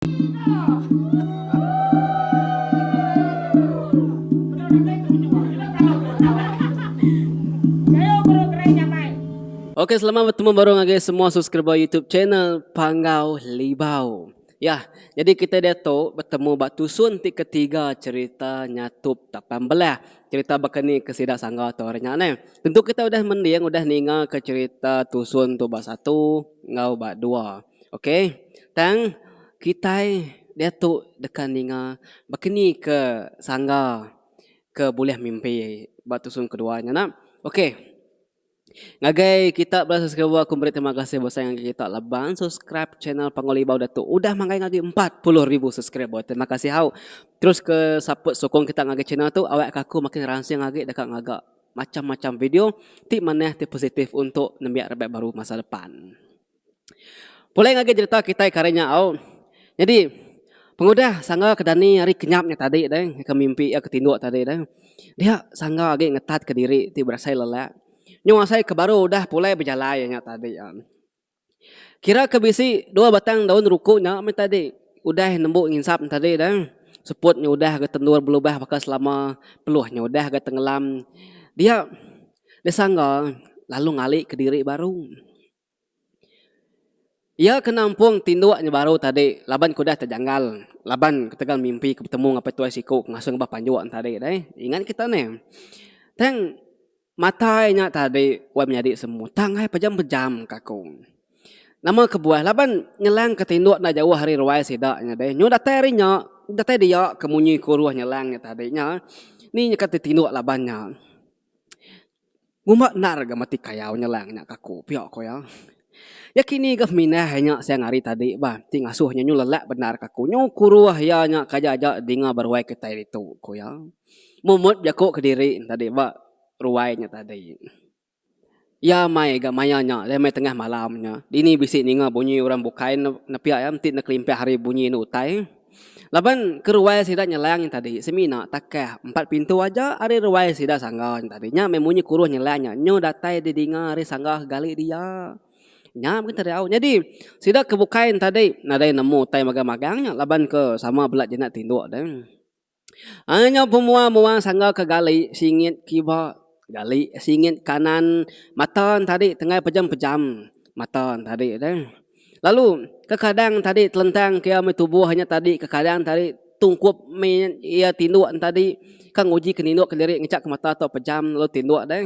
Okey selamat bertemu baru ngagai semua subscriber YouTube channel Panggau Libau. Yah, jadi kita diatu bertemu ba tusun ti ketiga cerita Nyatup Tapan Belah. Cerita baka ni ke sida sangga tu hari nya neh. Tentu kita udah mending udah ninga ke cerita tusun tu ba satu enggau ba dua. Ok tang kitai diatu deka ninga bakani ke sangga ke bulih mimpi ba tusung kedua nya nah. Ok ngagai kita bala subscriber aku meri terima kasih besai ngagai kita laban bala subscribe channel Pangulimbau Datu udah manggai ngagai empat puluh ribu subscriber. Terima kasih hau. Terus ke support sokong kita ngagai channel tu awak ka aku makin ransing agi deka ngaga macam-macam video ti manah ti positif untuk nembiak raban baru masa depan. Pulai ngagai jerita kitai ke hari nya au. Nyadi pengudah sangga ke dani ari kinyap nya tadi deh ke mimpi iya ke tinduk tadi deh. Dia sangga agi ngetat ke diri ti berasai lelak nyung asai ke baru udah pulai bejalai iya nya tadi am. Kira ke bisi dua batang daun ruku nya meh tadi udah nembu nginsap ne tadi deh. Seput nya udah ga tendur belubah baka selama, peluh nya udah ga tengelam. Dia, dia sangga lalu ngali ke diri baru. Iya ke nampung tinduk nya baru tadi laban ke udah tejanggal laban ketegal mimpi ke betemu ngapai tuai siku ke ngasuh ngubah panjuk ne tadi deh. Ingat kita neh. Tang matai nya tadi wak menyadi semua tangai pejam pejam ka aku. Nama kebuah laban nyelang ke tinduk enda jauh ari ruai sida nya deh. Nyu datai ari nya datai dia ke munyi kuruh nyelang nya tadi nya. Ni nyukat tinduk laban nya. Ngumba endar ga mati kayau nyelang nya ka aku pia ko iya. Iya kini ga pemindah iya nya siang hari tadi bah ti ngasuh iya nyu lelak bendar ka aku nyu kuruh iya nya kaja aja dinga ba ruai kitai ditu ko iya. Mun mut jaku kediri tadi ba ruai nya tadi. Iya mai ga maya nya lalu mai tengah malam nya dini bisi ninga bunyi orang bukai ne nepia iya enti ne kelimpah ari bunyi enda utai. Laban ke ruai sida nyelang nya tadi semina takah empat pintu aja ari ruai sida sangga nya tadi nya meh munyi kuruh nyelang nya nyu datai didinga ari sangga ke gali dia. Nya meh kita diau nyadi sida ke bukai nya tadi nadai nemu utai magang-magang nya laban ke sama bela jinak tinduk deh. Ai nyau pemua mua sangga ke gali singit kiba gali singit kanan mata tadi tengah pejam pejam mata tadi deh lalu kekadang tadi telentang ke ame tubuh nya tadi kekadang tadi tungkup me ia tinduk tadi ka nguji ke ninduk ke diri ngejak ke mata tu pejam lalu tinduk deh.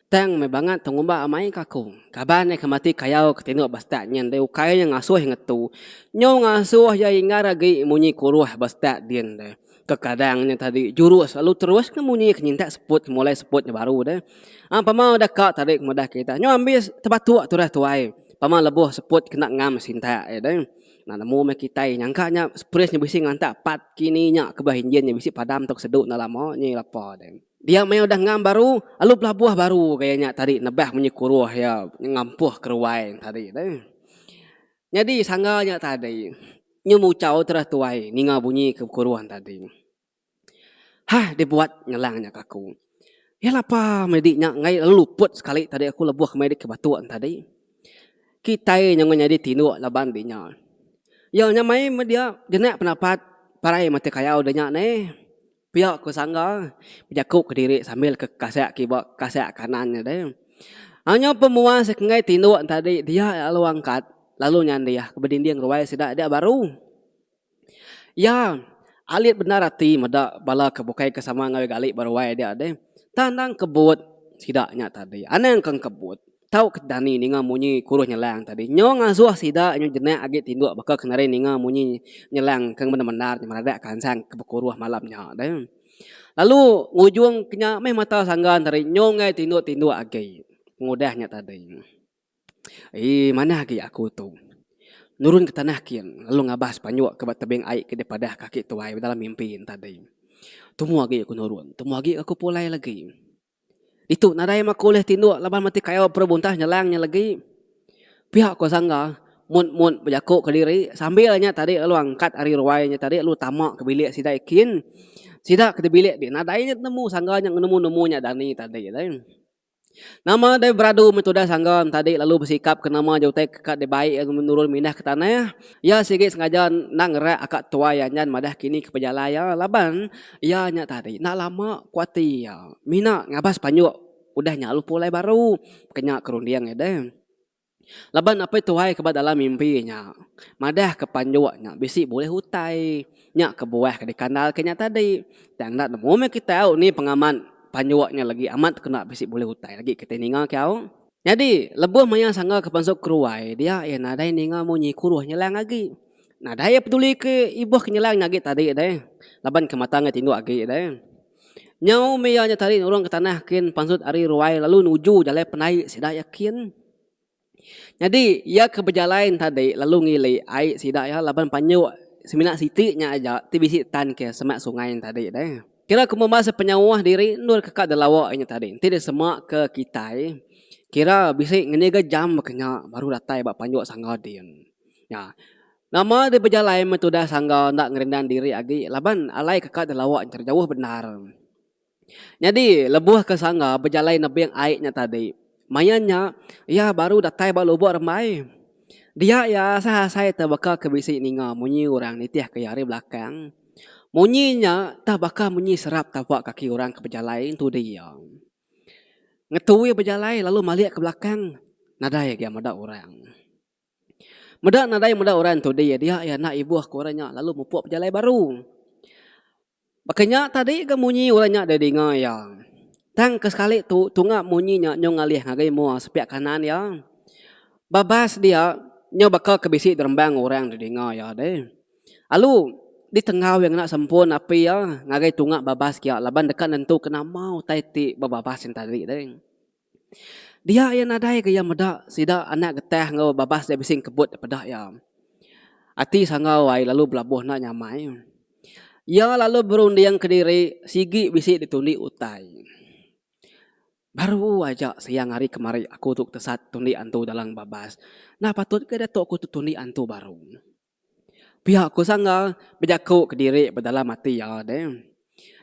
Tang meh bangat pengumba amai ka aku. Kaban iya ke mati kayau ke tinduk ba stat nyin deh ukai nya ngasuh ngetu. Nyau ngasuh iya inggar agi munyi kuruh ba stat din deh. Kekadang nya tadi jurus lalu terus ke munyi ke nyintak seput ke mulai seput nya baru deh. Ang pama udah ka tadi ke mudah kita. Nyau ambi tebatuk tudah tuai. Pama lebuh seput kena ngam sintak iya deh. Nah nemu meh kitai nyangka nya spris nya bisi ngantak part kini nya ke bah injin nya bisi padam tau ke sedu enda lama nyi lapa deh. Dia maya udah ngam baru, alu pelabuh baru ga iya nya tadi nebah munyi kuruh iya ngampuh keruai tadi deh. Nyadi sangga nya tadi nyu muchau terus tuai ninga bunyi ke kuruh tadi. Hah dibuat ngelang nya ke aku. Iya lapa meh di nya ngai lalu luput sekali tadi aku lebuh ke mai ke batu tadi. Kitai nyengah nyadi tinduk laban di nya. Iya nya mai meh dia jenak pendapat parai mati kayau di nya neh. Pia ku Sangga bejaku kediri sambil ke kasek kiba kasek kanan nya deh. Anyo pemuas enggai tinduk entadi dia lalu angkat lalu nyandih ke bedinding ruai sida dia baru. Iya alit bendar ati meda bala ke bukai ke sama enggau iya gali ba ruai dia deh. Tang endang kebut sida nya tadi. Anang kang kebut. Tau ke dani ninga munyi kurus nyelang tadi nyau ngazuh sida nyu jenak agi tinduk baka ke nadai ninga munyi nyelang ke bendar-bendar nyemeradak kansang ke bekuruh malam nya deh. Lalu ngujung ke nya meh mata sanggan tadi nyu enggai tinduk-tinduk agi pengudah nya tadi. Eii manah agi aku tu nurun ke tanah kin lalu ngabas panyuk ke ba tebing ai ke dipadah kaki tuai dalam mimpi nya tadi. Tumu agi aku nurun, tumu agi aku pulai lagi. Ditu nadai maku ulih tinduk laban mati kayau perebuntah nyelang nya legi. Pia ko Sangga, Mun mun bejaku ke diri, sambil nya tadi lalu angkat ari ruai nya tadi lalu tama ke bilik sida ikin. Sida ke di bilik ti nadai nya tenemu Sangga nya ngenemu nemu nya dani tadi alai. Nama deh beradu meh tudah Sangga tadi lalu besikap ke nama je utai ke ka dibai iya nurun mindah ke tanah. Iya sigi sengaja enda ngerak aka tuai anjan madah kini ke pejalai iya laban Iya nya tadi enda lama ku ati iya mina ngabas panjuk udah nya lalu pulai baru kena ke runding iya deh. Laban apai tuai ke ba dalam mimpi nya madah ke panjuk nya bisi bulih utai nya kebuah ke dikandal ke nya tadi tang enda nemu meh kitai au ni pengaman panjuk nya lagi amat kena bisi bulih utai lagi kitai ninga kiau. Nyadi, lebuh maya sangga ke pansut ke ruai dia iya nadai ninga munyi kuruh nyelang agi. Nadai iya peduli ke ibuh ke nyelang nya agi tadi deh laban ke mata ngai tinduk agi deh. Nyau meh iya nya tadi nurung ke tanah kin pansut ari ruai lalu nuju jalai penai sida iya kin. Nyadi, iya ke bejalai nya tadi lalu ngili ai sida iya laban panyuk semina siti nya aja ti bisi tan ke semak sungai nya tadi deh. Kira ku membasa penyauah diri endur ke ka delawa inya tadi enti disema ke kitai kira bisi ngendi ga jam baka nya baru datai ba panjuk sangga din. Nya nama deh bejalai meh tudah sangga enda ngerindan diri agi laban alai ke ka delawa enter jauh bendar. Nyadi lebuh ke sangga bejalai nebing ai nya tadi Maya nya, iya baru datai ba lubuk rembai. Dia iya asai-asai teh baka ke bisi ninga munyi orang nitihka iya ari belakang. Munyi nya teh baka munyi serap tapak kaki orang ke bejalai entudi iya. Ngetui bejalai lalu malik ke belakang nadai agi iya meda orang. Meda nadai meda orang entudi, dia iya enda ibuh ke orang nya lalu mupuk bejalai baru. Baka nya tadi ga munyi orang nya didinga iya. Tang ke sekali tu tunga munyi nya nyau ngalih ngagai mua sepiak kanan iya. Babas dia nyau baka ke bisi derembang orang didinga iya deh. Alu ditenggau iya ngena sempun api iya ngagai tunga babas kia laban deka nentuka nama utai ti bebabas nya tadi deh. Dia iya nadai ke iya meda sida anak getah enggau babas dia bisi ngkebut da peda iya. Ati Sanggau ai lalu belabuh enda nyamai. Iya lalu berunding kediri sigi bisi ditundi utai. Baru aja siang ari kemari aku tu tesat tundi antu dalam babas. Enda patut ke diatu aku tu tundi antu baru. Pia ku Sanggar bejaku kediri bedalam ati iya deh.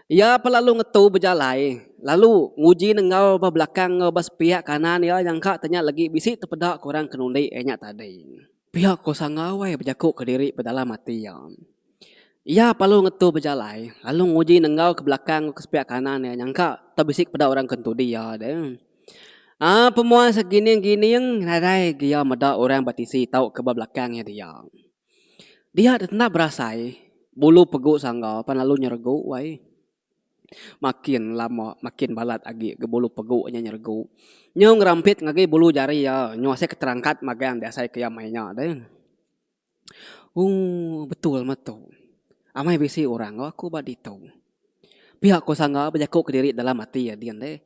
Iya pa lalu ngetu bejalai lalu nguji nenggau ba belakang enggau ba sepiak kanan iya nyangka tanya legi bisi tepeda ke orang ke nundi iya nya tadi. Pia ku Sanggar wai bejaku kediri bedalam ati iya. Iya pa lalu ngetu bejalai lalu nguji nenggau ke belakang enggau ke sepiak kanan iya nyangka tau bisi peda orang ke nutudi iya deh. A Pemuai segining-gining nadai gia meda orang ba tisi tauka ba belakang iya dia. Dia tetap berasai bulu pegu sangga pan lalu nyeregu wai. Makin lama makin balat agi ga bulu pegu nya nyeregu. Nyau ngerampit ngagai bulu jari iya nyau asai keterangkat magang diasai ke iya mai nya deh. Ooh betul meh tu. Amai bisi orang enggau aku ba ditu. Pia ku sangga bejaku kediri dalam ati ya din deh.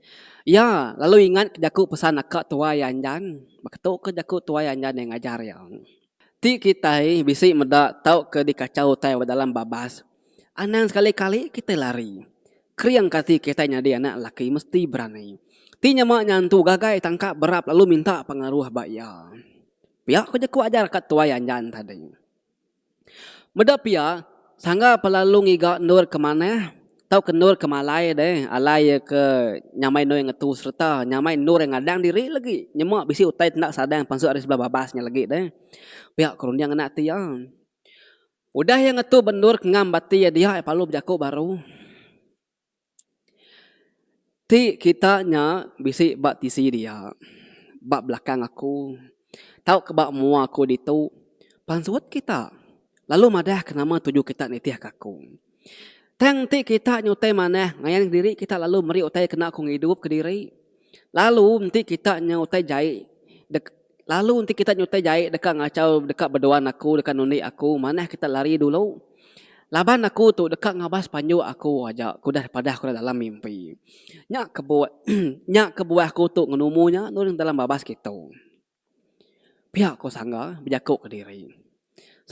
Iya lalu ingat ke jaku pesan aka tuai anjan. Baka tu ke jaku tuai anjan iya ngajar iya. Ti kitai bisi meda tauka dikachau utai ba dalam babas, anang sekali-kali kitai lari. Kering ke ati kitai nyadi anak lelaki mesti berani. Ti nyama nyantu gagai tangkap berap lalu minta pengaruh ba iya. Pia ko jaku ajar ka tuai anjan tadi. Meda pia, sangga pa lalu ngiga endur ke manah tauka endur ke malai deh alai iya ke nyamai endur iya ngetu sereta nyamai endur iya ngadang diri legi nyema bisi utai ti enda sadang pansut ari sebelah babas nya legi deh. Pia ko runding anak ti iya. Udah iya ngetu ba endur ke ngam ba ati iya dia iya parlu bejaku baru. Ti kita nya bisi ba tisi dia ba belakang aku tau ka ba mua aku ditu pansut kita lalu madah ka nama tuju kita nitih ka aku tang ti kita nyutai manah ngayan diri kita lalu meri utai kena aku ngidup kediri. Lalu enti kita nya utai jai dek lalu enti kita nya utai jai deka ngachau deka beduan aku deka nunik aku manah kita lari dulu. Laban aku tu deka ngabas panjuk aku aja ku udah padah ku dalam mimpi. Nya kebuah nya kebuah aku tu ngenumu nya nulung dalam babas kitu. Pia ko Sangga bejaku ke diri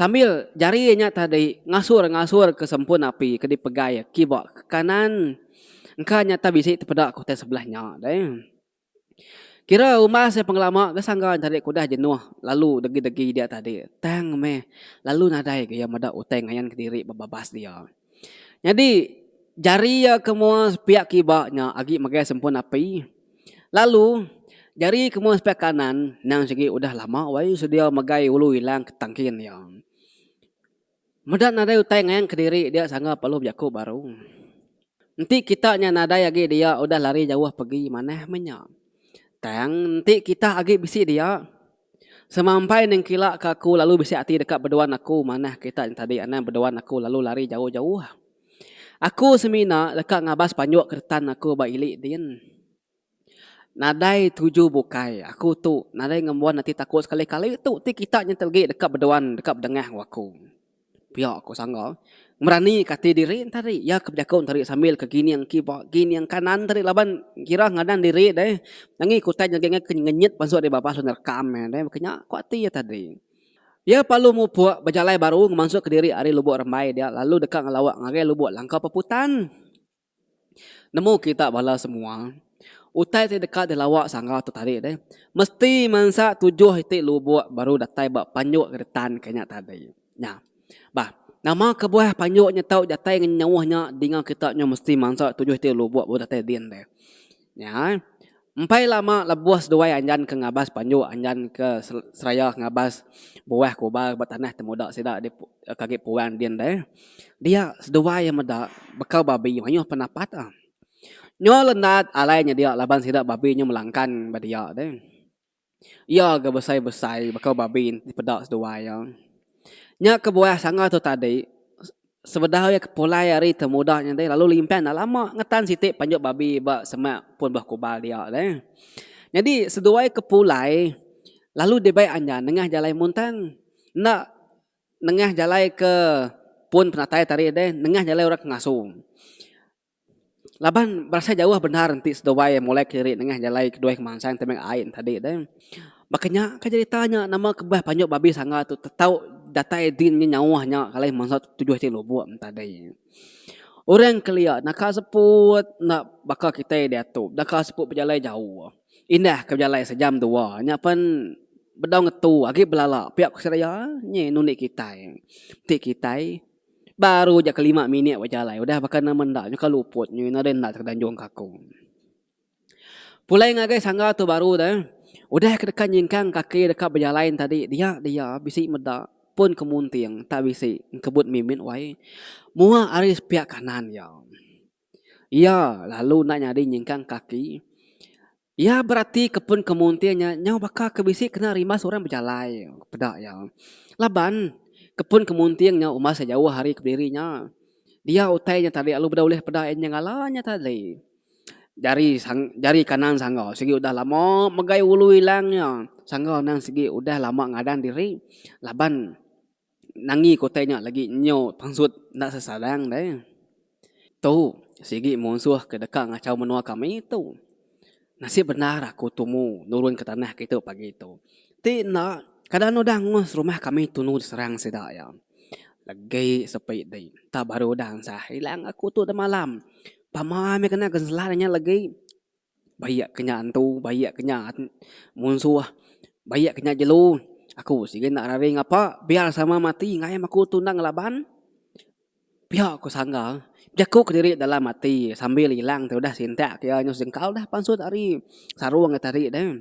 sambil jari iya nya tadi ngasur-ngasur ke sempun api ke dipegai iya kiba ke kanan engka nyata bisi tepeda ke utai sebelah nya deh. Kira umbas iya pengelama ke Sangga tadi ke udah jenuh lalu degi-degi dia tadi tang meh lalu nadai ke iya meda utai ngayan ke diri bebabas dia. Nyadi, jari iya ke mua sepiak kiba nya agi megai sempun api. Lalu, jari ke mua sepiak kanan endang sigi udah lama wai sedia megai ulu ilang ke tangkin iya. Meda nadai utai ngayan kediri dia sangga perlu bejaku baru. Enti kita nya nadai agi dia udah lari jauh pegi manah meh nya. Tang enti kita agi bisi dia, Semampai nengkila ke aku lalu bisi ati deka beduan aku manah kerita nya tadi anang beduan aku lalu lari jauh-jauh. Aku semina deka ngabas panjuk ke retan aku ba ili din. Nadai tuju bukai aku tu nadai ngembuan ati takut sekali-kali tu ti kita nya telegi deka beduan deka bedengah enggau aku. Pia ko Sangga. Ngerani ke ati diri enta ari. Iya ke bejako enta ari sambil ke gining kiba gining kanan tadi laban kira ngadan diri deh. Angi kutai nyadi angai ke ngenyit bansu ari babah lalu nerekam iya deh. Baka nya ko ati iya tadi. Iya palu mupuk bejalai baru ngemansuk ke diri ari Lubok Rembai dia lalu deka ngelawa ngagai Lubok Langkau Peputan. Nemu kita bala semua utai ti deka dilawa sangga tu tadi deh mesti mansa tujuh iti lubok baru datai ba panjuk getan ke nya tadi nya bah nama kebuah panjuk nya tau datai ngenyauh nya dinga kita mesti mansa tujuh iti lubok baru datai din deh Nya, empai lama lebuh seduai Anjan ke ngabas panjuk Anjan ke seraya ngabas buah kubar ba tanah temuda sida di Kagik Puang din deh, dia seduai iya meda bekau babi mayuh penapat ah. Nyo Lendat alai nyedia laban sida babi nyo melangkan ba dia deh. Iya ga besai-besai baka babi ti peda seduai iya. Nya kebuah sanga tu tadi sebedau iya ke pulai ari temuda nya tadi lalu limpah enda lama ngetan siti panjuk babi ba semak pun ba kubal dia alai. Nyadi seduai ke pulai lalu dibai anjan nengah jalai muntang enda nengah jalai ke pun penatai tadi deh nengah jalai orang ke ngasu. Laban berasai jauh bendar enti seduai molai kiri nengah jalai keduai kemansang tebing ai nya tadi deh. Baka nya ka jerita nya nama kebah panjuk babi sangga tu tetau datai din nya nyauh nya alai masa tujuh ti lubok nya tadi. Orang kelia naka seput enda baka kitai diatu deka seput bejalai jauh. Indah ke bejalai sejam dua nya pen bedau ngetu agi belala pia ku seraya nyi nunik kitai. Ti kitai. Baru ja ke lima minit bejalai udah baka nama enda nyukah luput nyu ina deh enda tau ke danjung ka aku. Pulai ngagai sangga tu baru deh udah ke deka nyingkang kaki deka bejalai tadi dia dia bisi meda pun ke munting tak bisi kebut mimit wai mua ari sepiak kanan iya. Iya lalu enda nyadi nyingkang kaki. Iya berati ke pun ke munting nya nyau baka ke bisi kena rimbas orang bejalai peda iya. Laban, ke pun ke munting nya umbas iya jauh ari ke bediri nya. Dia utai nya tadi lalu beda ulih peda iya nyengala nya tadi. Jari sang jari kanan sangga sigi udah lama megai ulu ilang iya. Sangga endang sigi udah lama ngadan diri laban. Nangi ke utai nya lagi nyau pansut enda sesadang deh. Tu sigi munsuh ke deka ngachau menua kami tu. Nasib bendar aku tumu nurun ke tanah kitu pagi tu. Ti enda kada anu udah angus rumah kami tunu diserang sida iya. Legi sepi di entah baru udah ansah ilang aku tu demalam. Pama mih kena genselah inya legi. Bayak ke nya antu bayak ke nya munsuh bayak ke nya jelu aku sigen enda raring apa biar sama mati ngagai em aku tu enda ngelaban pia ku sangga jaku kediri dalam ati sambil ilang tu dah sintak ke nya singkau dah pansut ari sarong ati ari deh.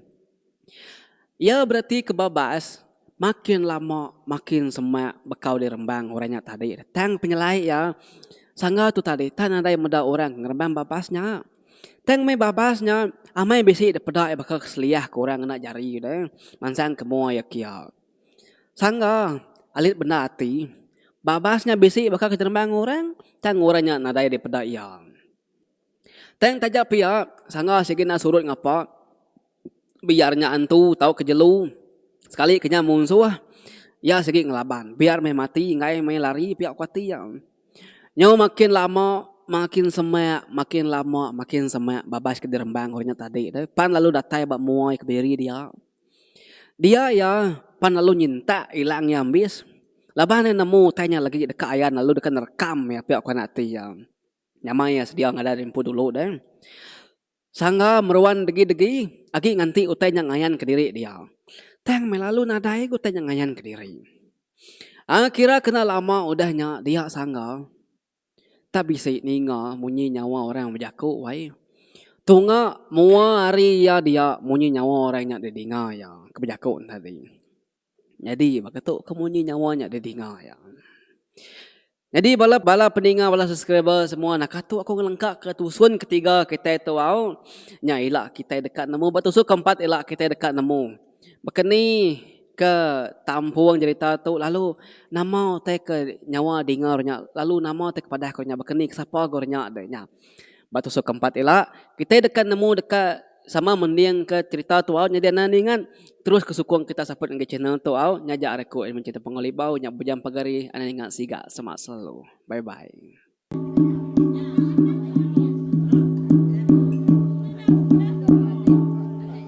Iya bereti ke babas makin lama makin semak bekau dirembang orang nya tadi tang penyelai iya sangga tu tadi enda nadai meda orang ke ngerembang babas nya. Tang meh babas nya amai bisi dipeda iya baka keselia ke orang ngena jari deh mansang ke mua iya kia. Sangga alit bendar ati babas nya bisi baka ke jerembang orang tang orang nya nadai dipeda iya. Tang taja pia, sangah sigi enda surut ngapa, biar nya antu tauka jelu, sekali ke nya munsuh, iya sigi ngelaban. Biar meh mati enggai meh lari pia kuati iya. Nyau makin lama makin semak, makin lama makin semak babas ke dirembang orang nya tadi tu, pan lalu datai ba mua iya ke diri dia. Dia iya pan lalu nyintak ilang iya ambis, laban iya nemu utai nya lagi deka ayan lalu deka nerekam iya pia kuan ati iya. Nyamai iya sedia ngadan empu dulu deh. Sangga meruan degi-degi agi nganti utai nya ngayan kediri dia. Tang meh lalu nadai utai nya ngayan kediri. Ai kira kena lama udah nya dia sangga tak bisi ninga munyi nyawa orang bejaku wai. Tunga mua hari iya dia munyi nyawa orang nya didinga iya ke bejaku ne tadi. Nyadi baka tu ke munyi nyawa nya di dinga iya. Nyadi bala bala peninga bala subscriber semua nah katu aku ngelengka ke tusun ketiga kitai tu au nya ila kitai deka nemu ba tusun keempat ila kitai deka nemu baka ni ke tampung jerita tu lalu nama utai ke nyawa dinga ru nya lalu nama utai ke padah ku nya baka ni ke sapa ku ru nya deh nya. Ba tusuk ke empat ila, kitai deka nemu deka sama mending ke cerita tu au nyadi anak ningat. Terus ke sukung kita saput ngagai channel tu au nya aja ari aku admin cerita Punggol Libau nya bujang pagar ih anak ningat siga semak selalu. Bye bye.